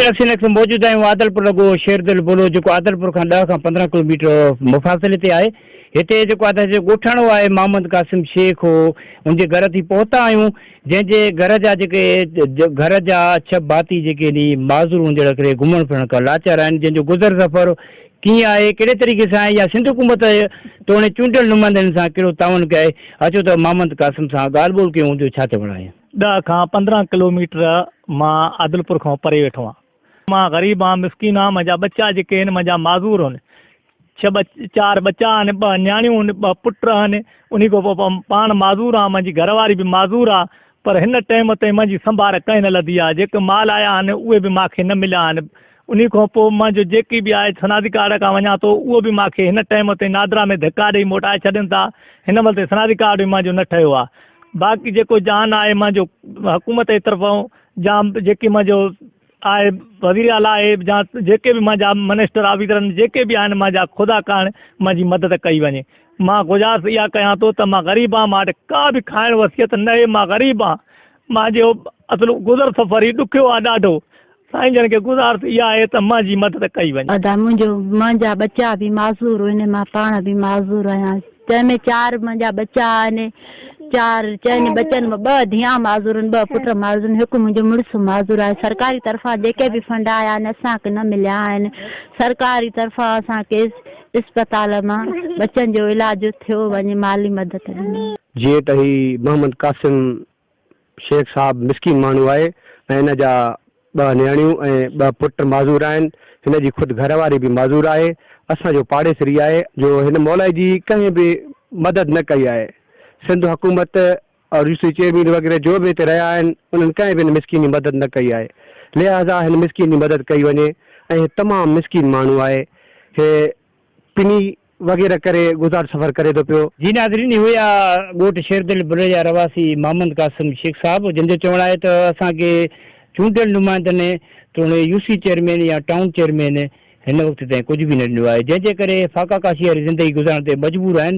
Taxi نيڪس ۾ موجود آهيون عادلپور لڳو شيردل بولو جيڪو عادلپور کان ڏهه کان پندرهن ڪلوميٽر مفاصلي تي آهي هتي جيڪو ادا جو ڳوٺاڻو آهي محمد قاسم شيخ هو ان جي گهر تي پهتا آهيون جنهن جي گهر جا جيڪي گهر جا ڇهه ڀاتي جيڪي اني معذور هون جهڙا ڪري گهمڻ ڦرڻ کان لاچار آهن جنهن جو گذر سفر ڪيئن آهي ڪهڙي طريقي سان آهي يا سنڌ حڪومت توڻي چونڊيل نمائندن سان ڪهڙو تعاون ڪيائي اچو ته محمد قاسم سان ڳالهه ٻولهه ڪيون جو ڇا چوڻ آهي. ڏهه کان پندرهن ڪلوميٽر مان عادلپور کان پري ويٺو آهيان. مان غريب آهيان، مسڪين آهيان، منهنجا ٻچا جيڪي آهن، منهنجا معذور آهن. ڇهه ٻچ، چار ٻچا آهن، ٻه نياڻيون آهن، ٻه پٽ آهن، انهي کان پوء پاڻ معذور آهيان، منهنجي گهر واري به معذور آهي، پر هن ٽيم تائين منهنجي سنڀار ڪنهن نه لڌي آهي، جيڪي مال آيا آهن، اهي به مان کي نه مليا آهن. انهي کان پوء مان جو جيڪي به آء ثنادي ڪارڊ کان وڃان ٿو اهو به مان کي هن ٽئيم تي نادرا ۾ ڌڪا ڏئي موٽائي ڇڏين ٿا هن مهل تائين ثنادي ڪارڊ به مان جو نه ٺهيو آهي باقي جيڪو جان آهي مان جو حڪومت جي طرفون جا جيڪي مان جو آهي وزير اعليٰ آهي جا جيڪي به مان جا منسٽر آفيسرن جيڪي به آهن مان جا خدا ڪرڻ مان جي مدد ڪئي وڃي مان گذارش اها ڪيان ٿو ته مان غريب آهيان مان وٽ ڪا به کائڻ وصيت نه آهي مان غريب آهيان مان جو اصل گذر سفر هي ڏکيو آهي ڏاڍو سائين جن کي گذارش اها آهي ته مان جي مدد ڪئي وڃي. ادا منهنجو منهنجا ٻچا به معذور هن مان پاڻ به معذور آهيان جنهن ۾ چار منهنجا ٻچا آهن چار چئن ٻچن مان ٻه ڌيئان معذور آهن ٻه پٽ معذور آهن هڪ منهنجو مڙس معذور آهي سرڪاري طرفان جيڪي به فنڊ آيا آهن اسان کي نه مليا آهن سرڪاري طرفان اسان کي اسپتال مان ٻچن جو علاج ٿيو وڃي مالي مدد ڏني جيئن ته هي محمد قاسم شيخ صاحب مسڪين ماڻهو آهي ۽ هن جا ٻه نياڻيون ۽ ٻه پٽ معذور آهن. هن جي خود گهر واري به معذور آهي. اسان جو پاڙيسري آهي. جو هن مولائي جي ڪنهن به مدد نه ڪئي آهي. سنڌ حڪومت اور يو سي چيئرمين وغيره جو به هتي رهيا آهن انهن ڪنهن به هن مسڪين جي مدد نه ڪئي آهي. لهٰذا هن مسڪين جي مدد ڪئي وڃي ۽ هي تمام مسڪين ماڻهو آهي. هي. پني وغيره ڪري گذار سفر ڪري ٿو پيو. جي ناظرين اهو ئي آ ڳوٺ شيردل بلوي جا رهواسي محمد قاسم شيخ صاحب جن جو چوڻ آهي ته اسان کي چونڊيل نمائندن توڻي يو سي چيئرمين يا ٽائون چيئرمين هن وقت تائين ڪجهه به نه ڏنو آهي جنهن جي ڪري فاقا ڪاشي واري زندگي گذارڻ تي مجبور آهن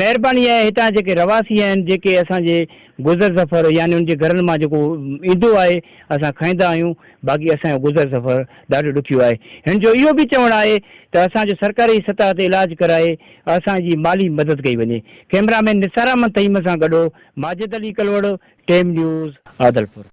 مهرباني آهي هتان جيڪي رهواسي آهن جيڪي اسان جي گذر سفر يعني ان جي گهرن مان جيڪو ايندو آهي اسان کائيندا آهيون باقي اسان جو گذر سفر ڏاڍو ڏکيو آهي. هن جو اهو به چوڻ آهي ته اسان جو سرڪاري سطح تي علاج ڪرائي اسان جي مالي مدد ڪئي وڃي. ڪئميرا مين نثار احمد تيمن سان گڏ ماجد علي ڪلهوڙو، ٽيم نيوز، عادلپور.